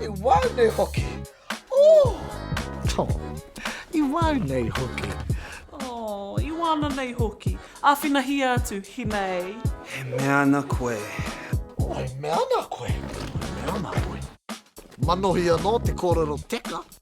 I wau nei hoki. Ooh. Oh. I wau nei hoki. Oh. I wana nei hoki. Awhinahia atu, hinei. E mea ana koe. Oh, e mea ana koe. E mea ana koe. Manohi anō te kōrero teka.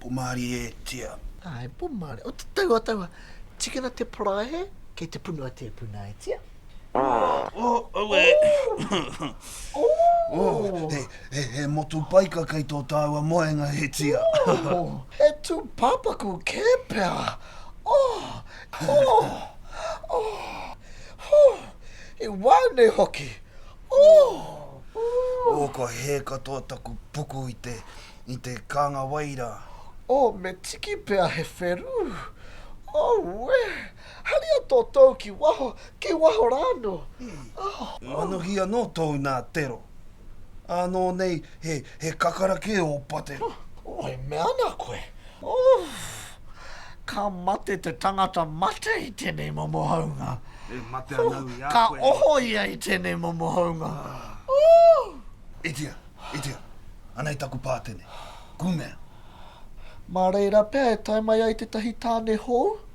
Pomari e tia. Ae, pomari. O te tau a taua, tikina te paraehe, kei te punu a tepuna e tia. He motu paika kei tō tāua moenga, e tia. He tūpāpaku kē pea. He wā nei hoki. Kua hē katoa taku puku i te kānga wai rā. Me tiki pea he wherū. Haria tō tou ki waho, ki waho rā anō, oh. Manuhi anō tōu nā Tero. Ānō nei he, he kakara kē ō pate. Oh, e mea ana koe, oh, ka mate te tangata mate i tēnei momo haunga. E mate ana au i a koe. Ka oho ia i tēnei momo haunga, oh. Itia, itia, anei taku pātene, kumea. Mā reira pea e tae mai ai tētahi tāne hou.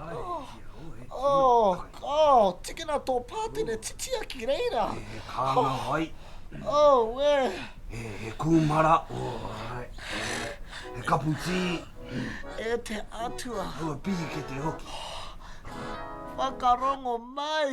Oh, oh, oh, tikina tō pātene titia ki reira. He, he kānga wai. Oh, wē. He, he kūmara. Oh, ai. He kapu tī. E te Atua. Aua pīkete hoki. Whakarongo mai.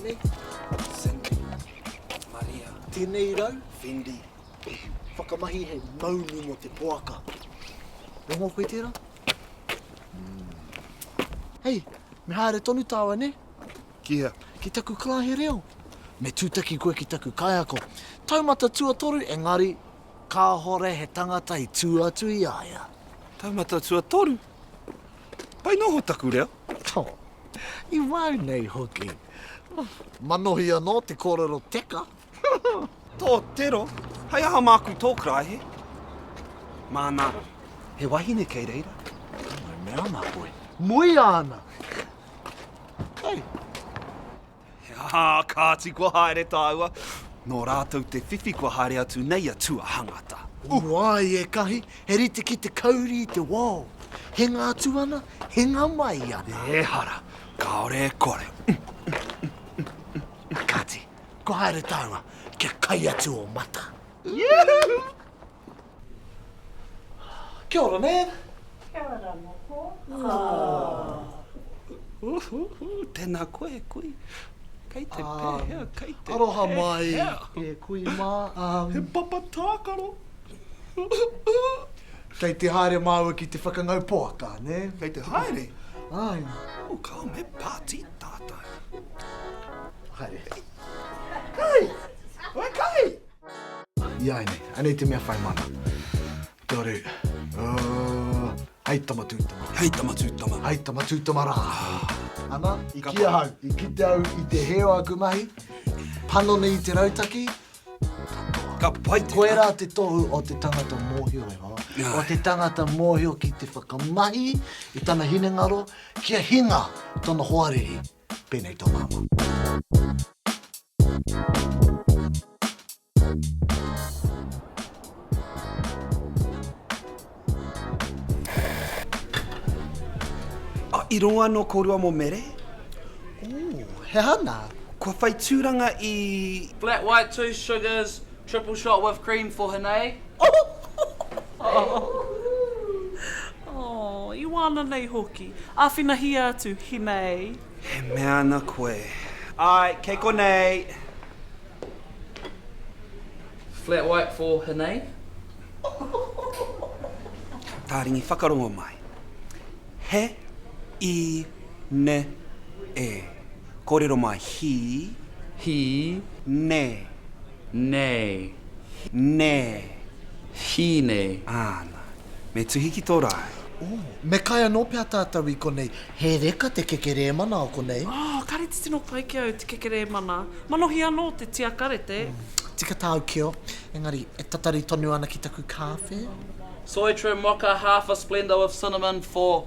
Tēnei, Cindy, Maria. Tēnei rau, Fendi. Whakamahi hei maunu mō te poaka. Rongo koe tērā? Hei, me haere tonu tāua, nē? Ki hea? Ki taku karahe reo. Me tūtaki koe ki taku kaiako. Taumata tuatoru, engari, Kāhore he tangata i tū atu i a ia. Taumata tuatoru? Pai noho taku reo. Tō. I wau nei hoki. Manohi anō te kōrero teka. Tō tero, hei aha māku tō karaehe? Māna, he wahine kei reira. Ka mau mea ana koe. Muia ana! Hei! He aha a Kāti kua haere tāua? Nō rātou te whiwhi kua haere atu nei a Tuahangata. O wai ekahi, he rite ki te kauri i te wao. Hinga atu ana, hinga mai ana. Ehara, kāore e kore. A Kāti, kua haere tāua, kia kai atu o mata. Kia ora, Nan. Kia ora ra moko. Tena koe e kui. Kei te pehea, kei te pehea. Aroha mai e kui ma. He papa takaro. Kei te haere maua ki te whakangau poaka, ne? Kei te haere? Ai. Come, he party tatou. Haere. Kahi! Oi kahi! Iai nei, anei te mea whai mana. Tore. Uh, hei tama tūtama. Hei tama tūtama. Hei tama tūtama rā. Ana, i ki ahau, i kite au i te heo aku mahi, panoni i te rautaki, ka pai te Koe rā te tohu o te tangata mōhio e hoa. Yeah. O te tangata mōhio ki te whakamahi i tana hinengaro kia hinga tana hoariri. Pēnei tō māua. Ah, i rongo anō kōrua mō Mere? Ooh, he aha nā? Kua whai tūranga i. Flat white, two sugars, Triple shot with cream for Hinei. Aww, i wāna nei hoki. Āwhinahia atu, Hinei. He mea ana koe. Āe, kei konei. Flat white for Hinei. Tāringi whakarongo mai. He i ne e. Kōrero mai, He. He. Nei. Nei. Nei. He nei. Āna. Me tuhi ki tō rae. Ō. Me kai anō pea tātou i konei. He reka te kekerēmana o konei. Ā, kāre te tino pai ki au te kekerēmana. Manohi anō te tiakarete. Tika tāu keo, engari e tatari tonu ana ki taku kāwhe. Soy Trim Mocha half a Splenda with cinnamon for.